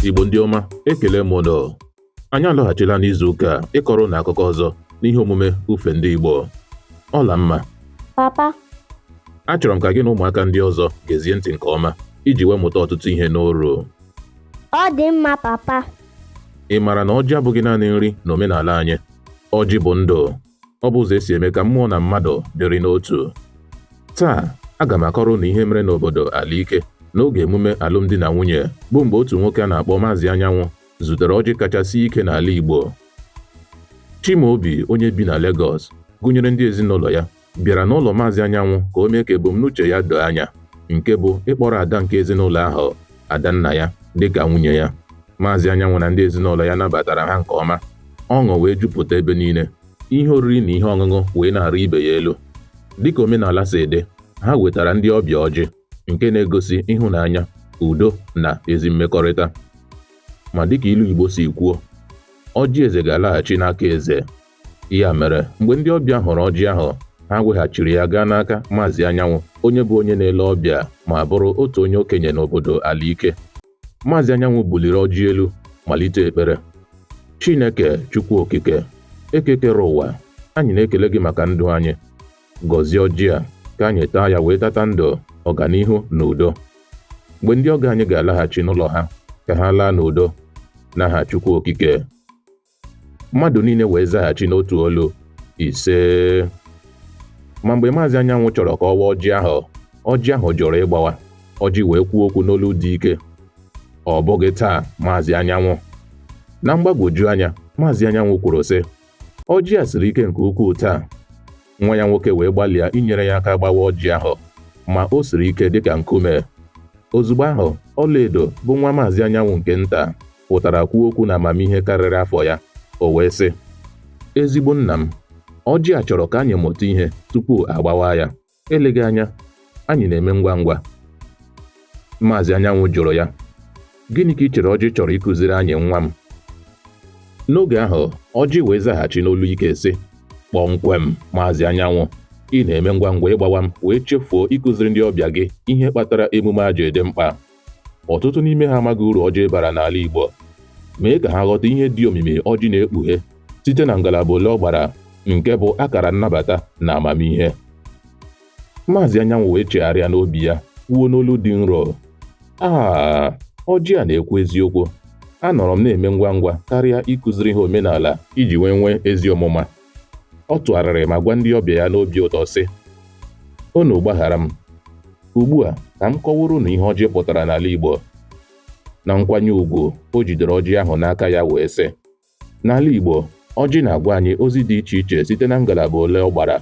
Igbo ndị ọma ekele m ụnụ anyị alọghachila n'izu ụka a ịkọrọ ụnụ akụkọ ọzọ n'ihe omume ufe ndị Igbo Ọlamma papa achọrọ m ka gị na ụmụaka ndị ọzọ gezie ntị nke ọma iji wee mụta ọtụtụ ihe n'oru ọ dị mma papa ị maara na ọjị abụghị naanị nri n'omenala anyị ọjị bụ ndụ ọ bụ ụzọ e si eme ka mmụọ na mmadụ dịrị n'otu taa aga m akọrọ ụnụ ihe mere n'obodo Alaike n'oge emume alụmdi na nwunye bụ mgbe otu nwoke a na-akpọ Maazị Anyanwụ zutere ọjị kacha sie ike n'ala Igbo Chimaobi onye bi na Legọs gụnyere ndị ezinụlọ ya bịara n'ụlọ Maazị Anyanwụ ka o mee ka ebumnuche ya doo anya nke bụ ịkpọrọ ada nke ezinụlọ ahụ Adannaya dịka nwunye ya. Maazị Anyanwụ na ndị ezinụlọ ya nabatara ha nke ọma. Ọṅụ wee jupụta ebe niile. Ihe oriri na ihe ọṅụṅụ wee na-arị ibe ya elu. Dịka omenala si dị, ha wetara ndị ọbịa ọjị nke na-egosi ịhụnanya, udo na ezi mmekọrịta. Ma dịka ilu Igbo si kwuo, ọjị eze ga-alaghachi n'aka eze. Ya mere, mgbe ndị ọbịa hụrụ ọjị ahụ, ha weghachiri ya gaa n'aka Maazị Anyanwụ, onye bụ onye na-ele ọbịa ma bụrụ otu onye okenye n'obodo Alaike. Maazị Anyanwụ buliri ọjị elu malite ekpere. Chineke Chukwu Okike, Eke kere ụwa, anyị na-ekele gị maka ndụ anyị. Gọzie ọjị a ka anyị taa ya wee tata ndụ, ọganihu na udo. Mgbe ndị ọgọ anyị ga-alaghachi n'ụlọ ha, ka ha laa n'udo n'aha Chukwu Okike. Mmadụ niile wee zaghachi n'otu olu, Ise. Ma mgbe Maazị Anyanwụ chọrọ ka ọ waa ọjị ahụ, ọjị ahụ jụrụ ịgbawa. Ọjị wee kwuo okwu n'olu dị ike. Ọ bụghị taa, Maazị Anyanwụ. Na mgbagwoju anya, Maazị Anyanwụ kwuru sị, Ọjị a siri ike nke ukwuu taa. nwa ya nwoke wee gbalịa inyere ya aka gbawa ọjị ahụ ma o siri ike dịka nkume ozugbo ahụ ọlaedo bụ nwa maazị anyanwụ nke nta pụtara kwuo okwu n'amamihe karịrị afọ ya o wee sị ezigbo nna m ọjị a chọrọ ka anyị mụta ihe tupu a gbawa ya eleghị anya Anyị na-eme ngwa ngwa. Maazị Anyanwụ jụrụ ya, Gịnị ka i chere ọjị chọrọ ịkụziri anyị nwa m? N'oge ahụ, ọjị wee zaghachi n'olu ike sị, Kpọmkwem, Maazị Anyanwụ, ị na-eme ngwa ngwa ịgbawa m wee chefuo ịkụziri ndị ọbịa gị ihe kpatara emume a ji dị mkpa. Ọtụtụ n'ime ha amaghị uru ọjị bara n'ala Igbo. Mee ka ha ghọta ihe dị omimi ọjị na-ekpughe site na ngalaba ole ọ gbara nke bụ akara nnabata na amamihe. Maazị Anyanwụ wee chegharịa n'obi ya kwuo n'olu dị nro aa ọjị a na-ekwu eziokwu anọrọ m na-eme ngwa ngwa karịa ịkụziri ha omenala iji wee nwee ezi ọmụma ọ tụgharịrị ma gwa ndị ọbịa ya n'obi ụtọ sị unu gbaghara m ugbu a ka m kọwaara unu ihe ọjị pụtara n'ala Igbo na nkwanye ugwu o jidere ọjị ahụ n'aka ya wee sị N'ala Igbo, ọjị na-agwa anyị ozi dị iche iche site na ngalaba ole ọ gbara.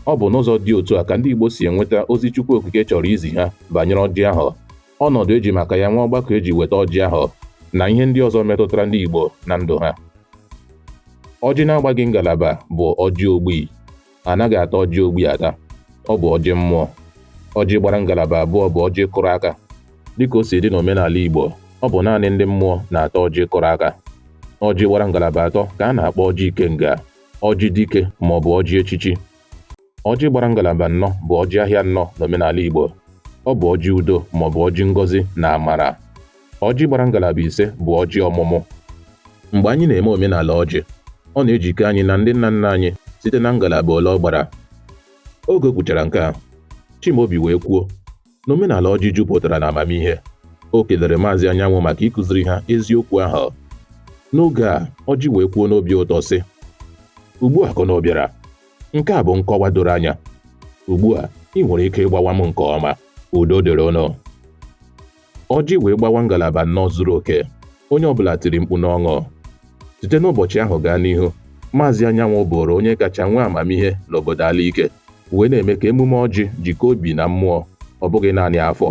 Ọ bụ n'ụzọ dị otu a ka ndị Igbo si enweta ozi Chukwu Okike chọrọ izi ha banyere ọjị ahụ, ọnọdụ eji maka ya nwee ọgbakọ eji weta ọjị ahụ, na ihe ndị ọzọ metụtara ndị Igbo na ndụ ha. Ọjị na-agbaghị ngalaba bụ ọjị ogbi. anaghị ata ọjị ogbi ata ọ bụ ọjị mmụọ ọjị gbara ngalaba abụọ bụ ọjị kụrụ aka dịka o si dị n'omenala Igbo ọ bụ naanị ndị mmụọ na-ata ọjị kụrụ aka ọjị gbara ngalaba atọ ka a na-akpọ ọjị ikenga ọjị dike ma ọ bụ ọjị echichi ọjị gbara ngalaba nnọ bụ ọjị ahịa nnọ n'omenala Igbo ọ bụ ọjị udo ma ọ bụ ọjị ngọzi na amara Ọjị gbara ngalaba ise bụ ọjị ọmụmụ. Mgbe anyị na-eme omenala ọjị, ọ na-ejikọ anyị na ndị nna nna anyị site na ngalaba ole ọ gbara. Oge o kwuchara nke a, Chimaobi wee kwuo na omenala ọjị jupụtara na amamihe. O kelere Maazị Anyanwụ maka ịkụziri ha eziokwu ahụ. N'oge a, ọjị wee kwuo n'obi ụtọ sị, Ugbu a ka ụnụ bịara, nke a bụ nkọwa doro anya. Ugbu a, ị nwere ike ịgbawa m nke ọma. Udo dịrị ụnụ. Ọjị wee gbawa ngalaba nnọ zuru oke. Onye ọbụla tiri mkpu n'ọṅụ. Site n'ụbọchị ahụ gaa n'ihu, Maazị Anyanwụ bụụrụ onye kacha nwee amamihe n'obodo Alaike wee na-eme ka emume ọjị jikọọ obi na mmụọ, ọ bụghị naanị afọ.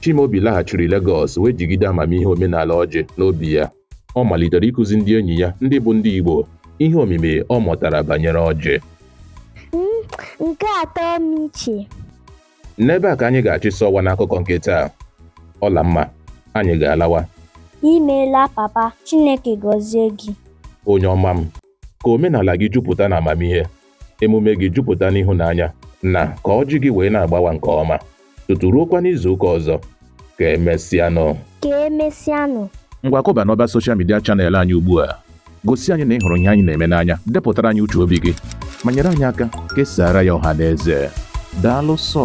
Chimaobi laghachiri Legọs wee jigide amamihe omenala ọjị n'obi ya. Ọ malitere ịkụzi ndị enyi ya ndị bụ ndị Igbo ihe omimi ọ mụtara banyere ọjị. Nke atọ m iche. N'ebe a ka anyị ga-achịsọ ọwa n'akụkọ nke taa. Ọlamma, anyị ga-alawa. Imeela papa, Chineke gọzie gị. Onye ọma m, ka omenala gị jupụta na amamihe, emume gị jupụta n'ịhụnanya, na ka ọjị gị wee na-agbawa nke ọma, tutu ruokwa n'izu ụka ọzọ. ka emesịanụ ka emesịanụ ngwa kụba n'ọba soshal midia chanel anyị ugbu a gosi anyị na ị hụrụ ihe anyị na-eme n'anya depụtara anyị uche obi gị ma nyere anyị aka kesaara ya ọha na eze daalụ sọ